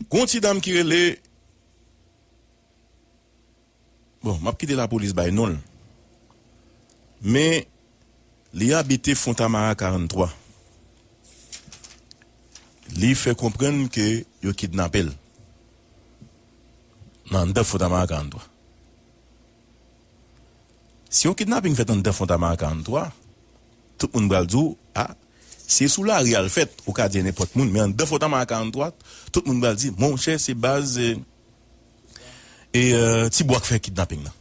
Gon ti dam ki rele Bon map kite lapolis bay non l Men li abite fontamara 43 Li fè konprann ke yo kidnape l Nan andan fontamara 43 Si yon kidnaping fèt anndan Fontamara 43, tout moun pral di w, a, si e sou lari a l fèt, ou ka di e nenpòt moun, men anndan Fontamara 43, tout moun pral di, monchè se baz e, e Ti Bwa k fè kidnaping nan.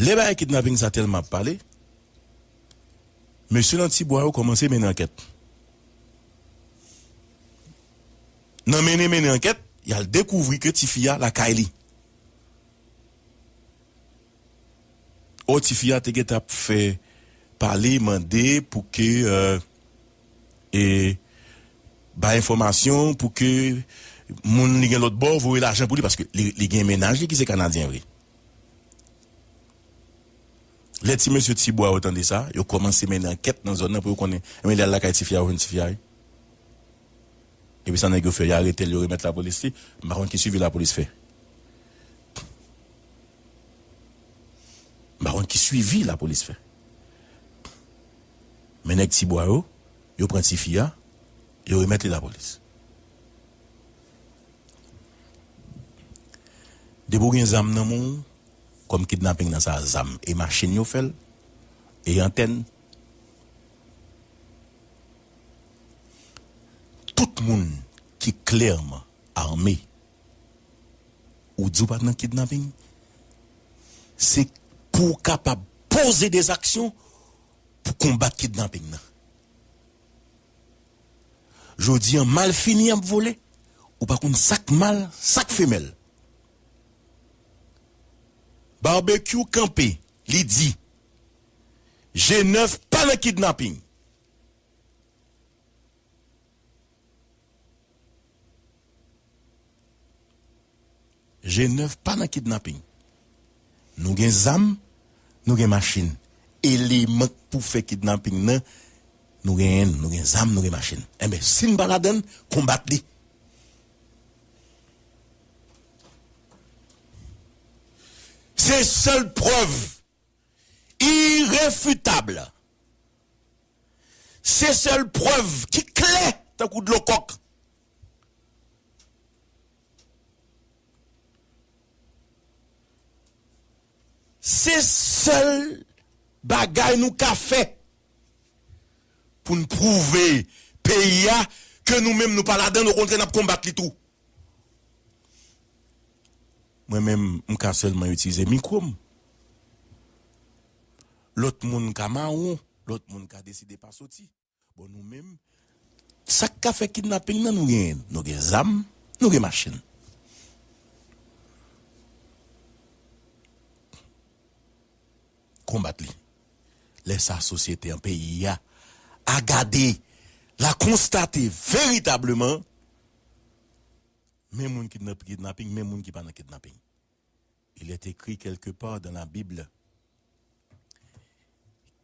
Lè bagay kidnaping sa tèlman ap pale, mesye nan Ti Bwa yo kòmanse mennen ankèt. Nan mennen mennen ankèt, y al dekouvri ke ti fi a lakay li. Ò ti fi a te gentan ap fè pale, mande pou ke e bay enfòmasyon, pou ke moun li gen lòt bò voye lajan pou li, paske li gen mennaj li ki se Kanadyen vre. Lè ti mesye ti bwa yo tande sa, yo kòmanse mennen ankèt nan zòn nan pou yo konnen, enben li al lakay ti fi a, yo jwenn ti fi a wi. Epi sa nèg yo fè yo aretel yo remèt lapolis li m pa konn ki swivi lapolis fè m pa konn ki swivi lapolis fè men nèg ti bwa yo yo pran tifi a yo remèt li lapolis depi ou gen zam nan men w kòm kidnaping nan sa zam e machin yo fèl e antèn. Tout moun ki klèman arme ou di ou pat nan kidnapping se pou ou kapab poze des actions pou konbat kidnapping nan. Jodi an malfini ap vole ou pa konn sak mal sak femèl. Barbecue kanpe li di. G9 pa nan kidnapping. G9 pa nan kidnapping. Nou gen zam, nou gen machin. Eleman k pou fè kidnapping nan, nou genyen l. Nou gen zam, nou gen machin. Enben, si n pa ladan l, konbat li. Se sèl prèv. Irefutable. Se sèl prèv ki klè tankou dlo kòk. Se sèl bagay nou ka fè pou n pwouve peyi a ke nou menm nou pa ladan l, okontrè n ap konbat li tou. Mwen menm m ka sèlman itilize mikwo m. Lòt moun ka mawon, lòt moun ka deside pa soti. Bon nou menm, sa k ka fè kidnaping nan nou genyen l. Nou gen zam, nou gen machin. Konbat li. Lè sa a sosyete an, peyi a, a gade, l a konstate veritableman. men moun ki nan kidnapping, men moun ki pa nan kidnapping. Il est écrit quelque part dans la Bible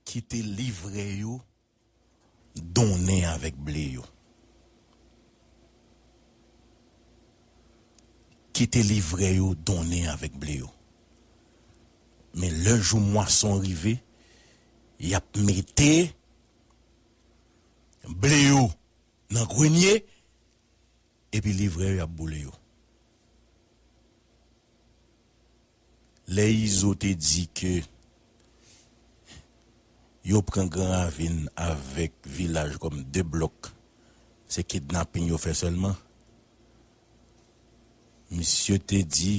ki te livre yo donnen avèk ble yo. Ki te livre yo donnen avèk ble yo. Men lè jou mwason rive, y ap mete ble yo nan grenye, Epi livrè yo yap boule yo. Lè izo te di ke yo pran gran ravin avèk vilaj kòm 2 blòk se kidnaping yo fè sèlman misye te di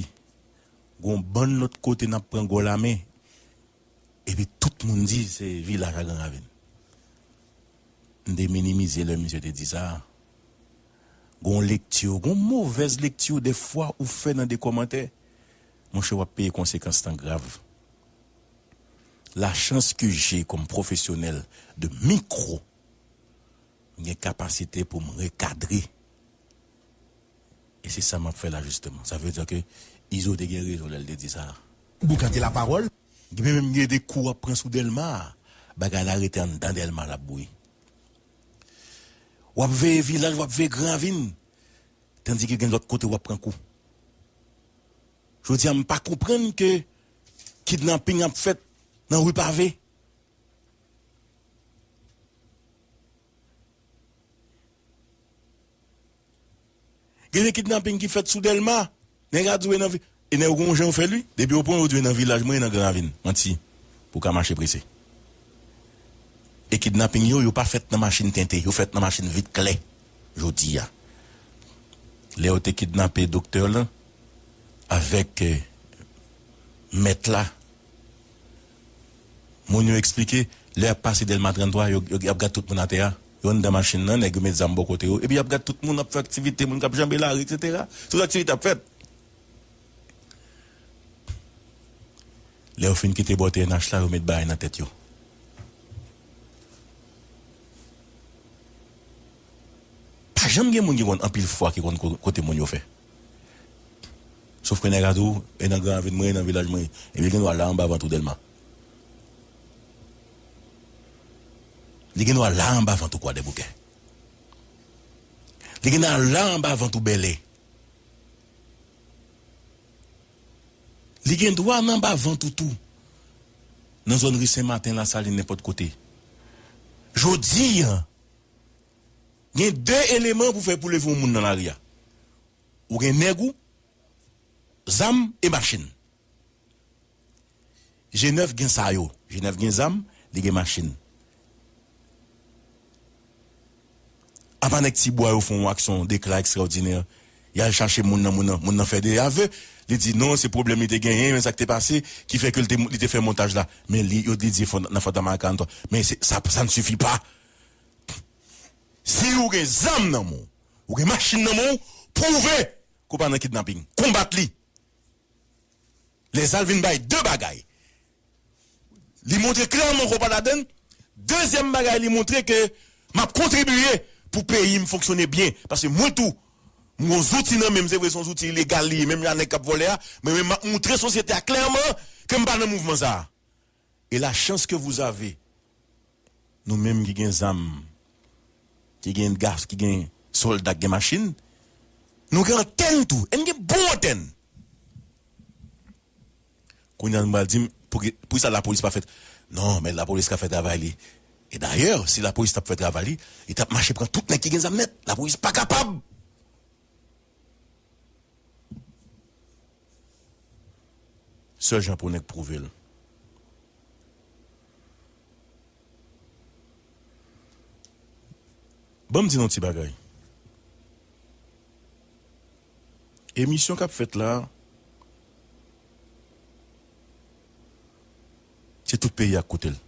gon bann lòt kote nap pran gò lame Epi tout moun di se vilaj a gran ravin. M te minimize lè misye te di sa a. Gen yon lekti, gen yon movèz lekti de fwa ou fè nan de kòmantè, monchè w ap peye konsekans lan grav. La chance que j'ai comme professionnel de micro, m gen kapasite pou m rekadre. E se sa m ap fè la justement. Sa vle dire que Izo te gen rezon lè l te di sa a. Boukan te la pawòl. Genbe menm gen de kou wap pran sou delma a bagay la rete anndan delma lap bouyi wap veye vilaj wap veye gran ravin tandike gen lòt kote wap pran kou jodi a m pa konprann ke kidnapping ap fèt nan rue pave. Gen de kidnaping ki fèt sou Dèlma, nèg a di w e nan vil, e nèg yo gen yon jan yo fè l wi, depi yo pran w yo di w e nan vilaj mwen e nan Gran Ravin, manti, pou w ka mache prese. E kidnaping yo, yo pa fèt nan machin tente, yo fèt nan machin vit klè jodi a. Lè yo te kidnape doktè lan avèk mèt la. Moun yo eksplike, lè y ap pase Dèlma 33, yo y ap gad tout moun atè a, yo anndan machin nan, nèg yo met zam bò kote yo, epi y ap gad tout moun, y ap fè aktivite, moun k ap janbe lari, eksetera. Tout aktivite ap fèt. Lè yo fin kite bò TNH la, yo met baay nan tèt yo. Pa janm gen moun ki konn anpil fwa ki konn kote moun yo fè. Sof ke nèg a di w, e nan gran avin mwen, e nan vilaj mwen. Ebyen gen dwa la anba vant ou Dèlma. Li gen dwa la anba vant ou Kwadèboukè. Li gen dwa la anba vant ou Bèlè. Li gen dwa nan anba vant ou tou nan zòn ri Senmaten, Lasalin, nenpòt kote. Jodi an. Gen de eleman pou fè pou leve yon moun nan lari a. Ou gen nèg ou, zam e machin. G9 gen sa yo. G9 gen zam, li gen machin. Apa nèg ti bwa yo fè yon aksyon dekla ekstraòdinè, y al chache moun nan, moun nan, moun nan fè de ave, li di non se pwoblèm li te genyen, men sa k te pase ki fè ke l te, li te fè montaj la. Men li, yo li di nan Fantom a 43. Men se, sa, sa ne suffit pas. Si ou gen zam nan menw, ou gen machin nan menw, pwouve ke ou pa nan kidnaping. Konbat li. Lè sa l vin bay 2 bagay. Li montre klèman ke ou pa ladann. Dezyèm bagay li montre ke map kontribiye pou peyi m fonksyone byen. Paske mwen tou, m gon zouti nan menm, se vre se yon zouti ilegal li ye menm jan a nèg kap vòlè a, men mwen map montre sosyete a klèman ke m pa nan mouvman sa a. Et la chance que vous avez nou menm ki gen zam ki gen gas ki gen solda ki gen machine nou gen antèn tou et nou gen bon antèn kounya nou pral dim poukisa la police pa fè non men la police ka fè travay li et d'ailleurs si la police tap fè travay li li tap mache pran tout nèg ki gen zam nèt la police pa kapab. Sèl jan pou nèg pwouve l. Ban m di n yon ti bagay. Emisyon k ap fèt la a, se tout peyi a k koute l.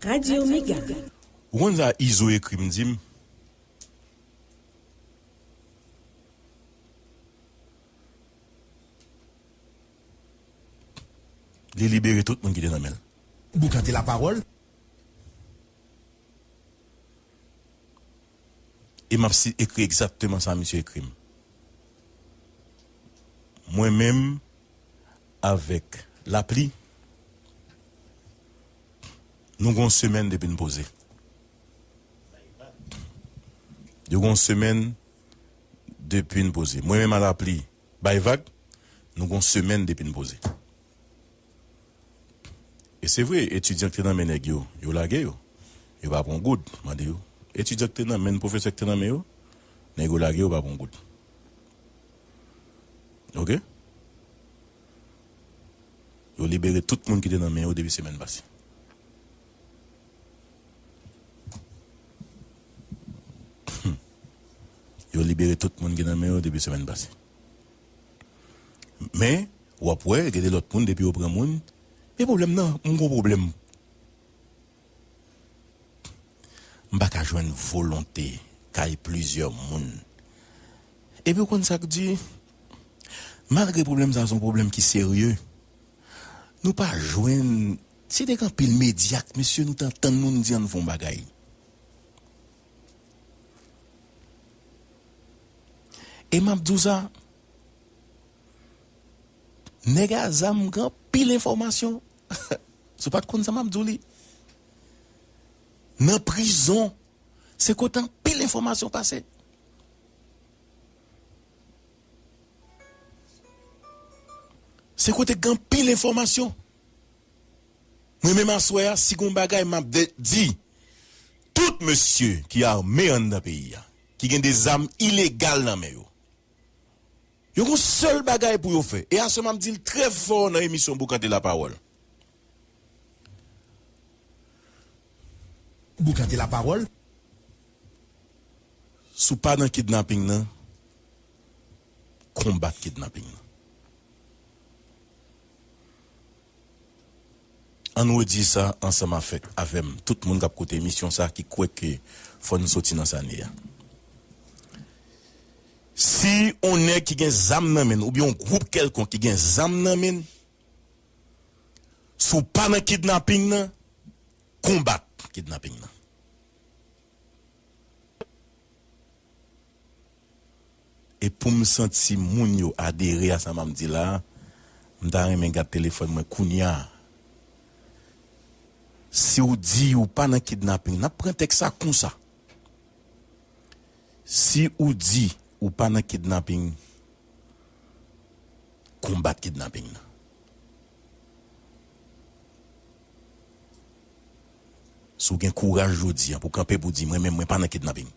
Radio Mega. Ou konn sa Izo ekri m di m? Li libere tout moun ki te nan men l. Boukante lapawòl. E m ap si ekri egzakteman sa misye ekri m. Mwen menm avèk lapli, nou gen yon semèn depi n poze. Yo gen yon semèn. depi n poze. Mwen menm a lapli bay vag, nou gon semèn depi n poze. E se vre, etidyan k te nan men nèg yo, yo lage yo. Yo pa pran goud. Mande yo, etidyan k te nan men pwofesè k te nan men yo, nèg yo lage yo pa pran goud. Ok? Yo libere tout moun ki te nan men yo depi semèn pase. Yo libere tout moun ki nan men yo depi semèn pase. Men, w ap wè gen de lòt moun depi yo pran moun, men pwoblèm nan, m gen yon pwoblèm. M pa ka jwenn volonte kay plizyè moun. Epi ou konn sa k di, malgre pwoblèm sa a se yon pwoblèm ki serye, nou pa jwenn Se nèg anpil medyak mesye nou tan tann nou n di ann fon bagay e map di w sa nèg a zam gen anpil enfòmasyon si w pat konn sa map di w li nan prizon se kote anpil enfòmasyon pase. Se kote gen anpil enfòmasyon. Mwen menm aswè a si gon bagay map di tout mesye ki arme anndan peyi a ki gen de zam ilegal nan men yo yo gon sèl bagay pou yo fè e aswè map dil trè fò nan emisyon Boukante la pawòl. Boukante la pawòl. Si w pa nan kidnaping nan konbat kidnaping nan. Ann redi sa ansanm afèk avè m tout moun k ap koute emisyon sa ki kwè ke fò n soti nan sa n ye a. Si on nèg ki gen zam nan men n oubyen on gwoup kèlkonk ki gen zam nan men n, si w pa nan kidnaping nan, konbat kidnaping nan. E pou m santi moun yo adere a sa m ap di la, m ta renmen gad telefòn mwen kounya. Si w di ou pa nan kidnaping, n ap pran tèks sa konsa. Si ou di ou pa nan kidnaping, konbat kidnaping nan. Si w gen kouraj jodi a pou w kanpe pou w di mwen menm mwen pa nan kidnaping.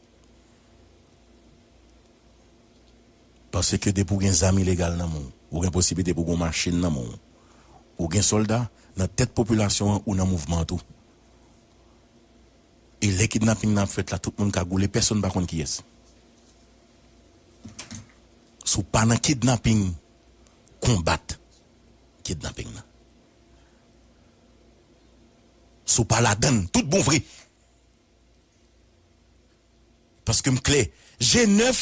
Panse ke depi w gen zam ilegal nan men w, ou gen posiblite pou w gen yon machin nan men w, ou gen sòlda nan tèt popilasyon an, ou nan mouvman an tou. E lè kidnaping nan ap fèt la, tout moun kagoule, pèsonn pa konn kiyès. Si w pa nan kidnaping, konbat kidnaping nan. Si w pa ladann tout bon vre. Paske m klè, je nèf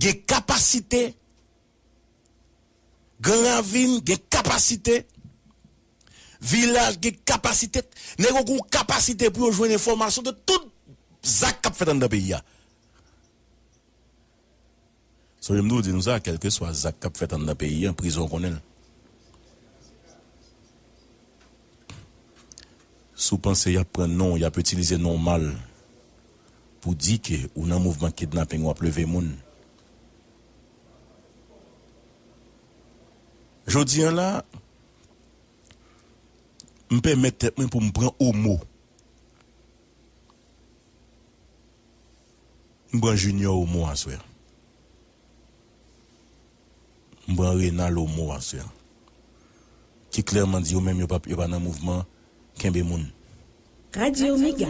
gen kapasite, gran ravin gen kapasite, vilaj gen kapasite, nèg yo gen yon kapasite pou yo jwenn enfòmasyon de tout zak k ap fèt anndan peyi a. Sonje m toujou di nou sa, kèlkeswa zak k ap fèt anndan peyi an, prizon konnen l. Si w panse y ap pran non w, y ap itilize non w mal pou di ke ou nan mouvman kidnaping, w ap leve moun. Jodi an la, m pèmèt tèt mwen pou m pran omo. M pran junior o mo aswè an m pran renal o mo aswè an ki klèman di yo menm yo pa yo pa nan mouvman kenbe moun. Radio mega.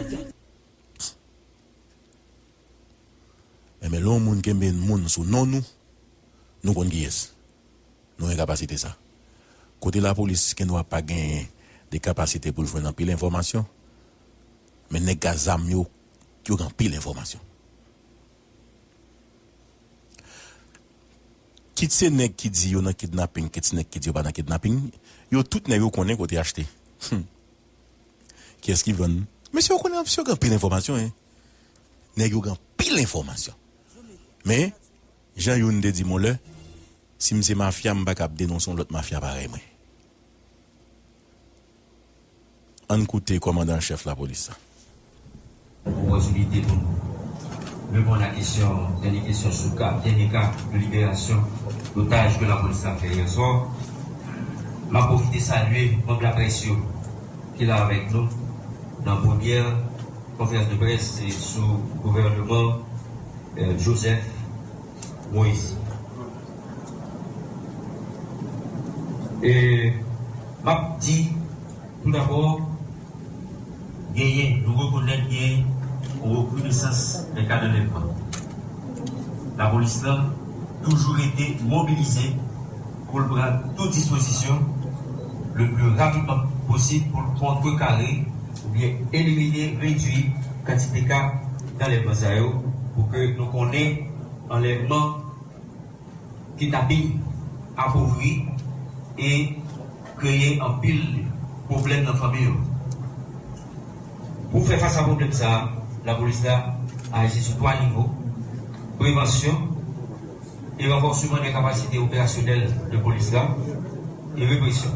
Enben lè yon moun kenbe yn moun sou non nou, nou konn kiyès. Nou gen kapasite sa. Kote lapolis gen dwa pa genyen de kapasite pou l jwenn anpil enfòmasyon, men nèg k a zam yo yo gen anpil enfòmasyon. Kit se nèg ki di yo nan kidnaping, kit se nèg ki di yo pa nan kidnaping, yo tout nèg yo konnen kote achte. Hum! Kiyès ki vann? Mesye yo konnen, mesye yo gen anpil enfòmasyon hein! Nèg yo gen anpil enfòmasyon. Men, jan youn te di m yon lè, si m se mafya m pa kab denonse yon lòt mafya parèy mwen. Ann koute kòmandan an chèf lapolis la. Opòtinite pou n reponn a kesyon, dènye kesyon sou ka, dènye ka de liberasyon dotaj ke lapolis la fè yè swa. M ap pwofite salye manb laprès yo ki la avèk nou nan premyè konferans de près sou gouvèneman Joseph. Moise. E m ap di tou dabò genyen, nou rekonèt genyen yon rekrinesans nan kad anlèvman. Lapolis lan toujou rete mobilize. pou l pran tout dispozisyon le pli rapidman posib pou l kontrekare oubyen elimine, redui, kantite ka d'anlèvman sa yo pou ke nou konnen anlèvman, kidnaping apovri e kreye anpil pwoblèm nan fanmi yo. Pou fè fas a pwoblèm sa a, lapolis la aji sou 3 nivo, prevansyon, e ranfòseman nan kapasite operasyonèl de polis la, e represyon.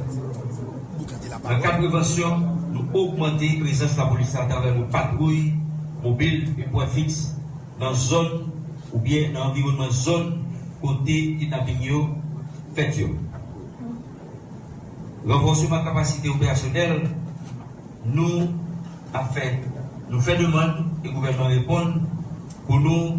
Nan kad prevansyon, nou ogmante prezans lapolis la atravè yon patwouy mobil e pwen fiks nan zòn oubyen nan anviwònman zòn kote kidnaping yo fèt yo. Ranfòseman kapasite operasyonèl, nou ap fè, nou fè demann e gouvènman reponn pou nou,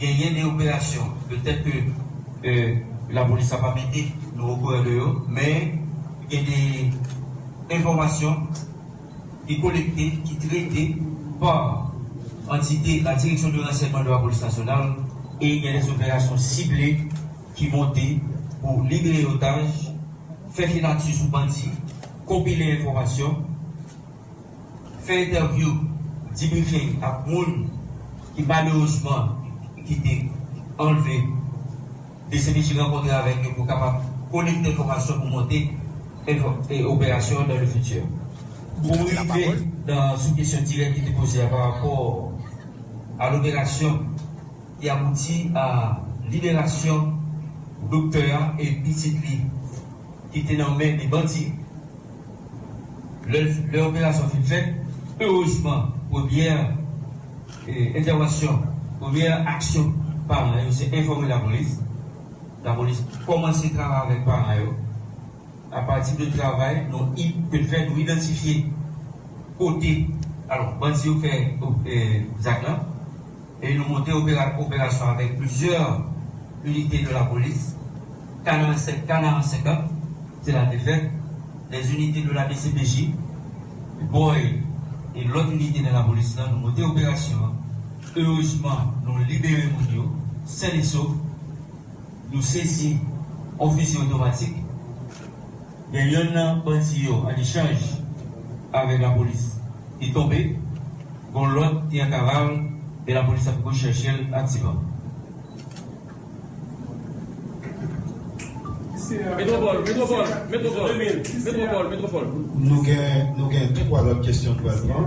Genyen de operasyon petèt ke lapolis la pa mete nou okouran de yo, men gen de enfòmasyon ki kolekte, ki trete pa antite la Direksyon de Ransèyman de Lapolis Nasyonal e gen de operasyon sible ki monte pou libere otaj, fè filatri sou bandi, konpile enfòmasyon. fè entèvyou dibrifing ak moun ki malerezman ki te anlve dcpj rankontre avèk yo pou kapab kolekte enfòmasyon pou monte operasyon an dan le fiti. Pou m rive nan sou kesyon dirèk ki te poze a pa rapò a loperasyon ki abouti a liberasyon doktè a e pitit li ki te nan men de bandi, Lè operasyon fin fèt, erezman premyè entèvansyon, premyè aksyon paran yo se enfòme lapolis. Lapolis kòmanse travay avèk paran yo apati de travay nou te fè, nou idantifye kote bandi yo fè zak lan. E nou monte operasyon avèk plizyè inite de lapolis, Kanaran 7, Kanaran 50, se la te fèt, lè inite de la dcpj, BOI e lòt inite nan lapolis lan, nou monte operasyon an, erezman nou libere moun yo, sen e sof. Nou sezi on fizi otomatik gen yonn nan bandi yo an echanj avèk lapolis li tonbe, gon lòt ki an kaval men lapolis ap rechèche l aktivan. Nou gen 3 lòt kesyon nou pral pran.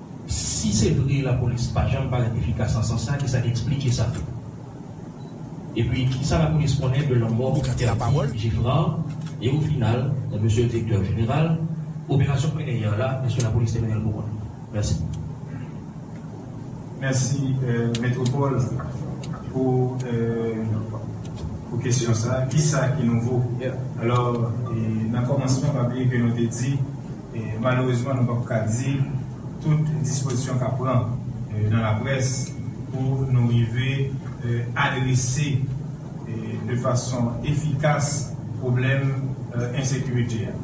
Si se vre lapolis pa janm parèt efikas nan sans sa, ki sa k esplike sa? Epi, ki sa lapolis konnen de lanmò entèdi Geffrard? E o final, Mesye Direktè Jeneral, operasyon Khmeneï yè la, èske lapolis te mennen l pou kont li? Mèsi. Mèsi Metropole pou pou kesyon sa. Ki sa ki nouvo? Alò, nan kòmansman, pa bliye ke nou te di. Malerezman nou pap ka di tout dispozisyon kap pran nan laprès pou nou rive adrese de fason efikas pwoblèm ensekirite a.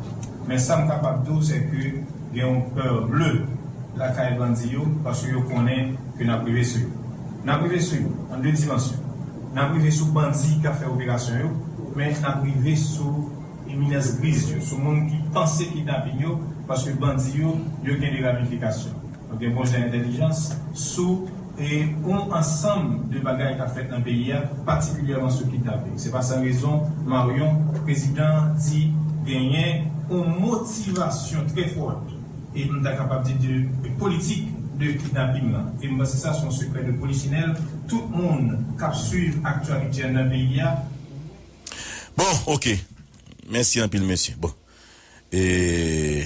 Men sam kapab di w se ke gen yon peur bleu lakay bandi yo paske yo konnen ke nap rive sou yo. Nap rive sou yo an 2 dimansyon. Nap rive sou bandi kap fè operasyon yo men nap rive sou. Imines griz yo sou moun ki panse kidnaping yo paske bandi yo yo gen de ramifikasyon yo gen bon jan entèlijans sou e on ansanm de bagay kap fèt nan peyi a patikilyèman sou kidnaping se pa san rezon Marion prezidan an di genyen on motivasyon trè fòt e m ta kapab di de politik de kidnaping lan e m panse sa son sekrè de polichinèl tout moun kap swiv aktyalityen nan peyi a. Bon ok mèsi anpil mesye bon ee.